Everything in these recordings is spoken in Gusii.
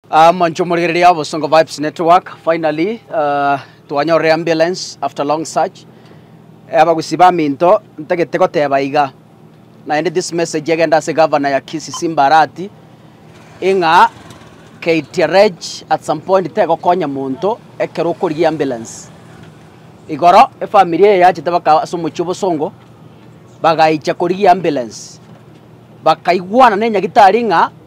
Aah monche omorigereria obosongo vibes network finally aah twanyorire ambulance after long search eh abagusii baminto ntagete goteba iga naende this message egende ase governor ya kisisi mbarati ing'a ktrg at some point tegokonya monto ekero okorigia ambulance igoro efamiri eye yachete baka ase omochie obosongo bagaicha korigia ambulance bakaigwana ne nyagitari ng'a.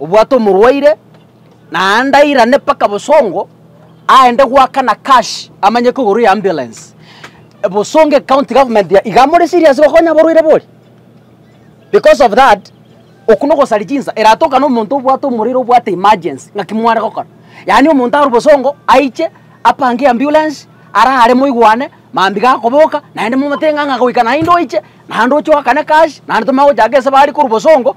Obwate omorwaire, na aande airane mpaka bosongo, aende goakana cash, amanye kogorwa eambulensi. Bosongo ecounty government ya- iga more serious gokonya abarwaire bori. Because of that, oku nogosari chinsa, eratokane omonto obwate omorwaire obwate emergency, ng'aki mware gokora? Yaani omonto arwe bosongo, aiche, apange eambulensi, arare moigwane, mambia iga akoboka, naende momotebe ng'a ng'a goika naende oiche, naende oche oakane cash, naende tomanye gochaka esabari korwa bosongo.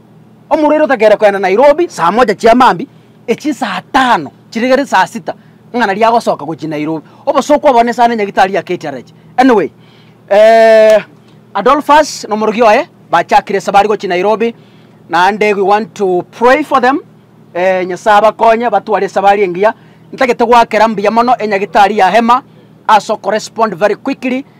Omorwaire otakeire kogenda Nairobi saa moja chia maambia, echie saa tano chiregere saa sita ng'a naria agosoka gochia Nairobi. Obosooku obo nesa ne nyagitari ya KTRH. Anyway, eh, Adolphus na omorogi oye bachakire ase bare gochia Nairobi, naende we want to pray for them, eh, Nyasae abakonye batware esabari engiya. Ntagete goakera mbuya mono enyagitari ya Emma ase okorespond very quickly,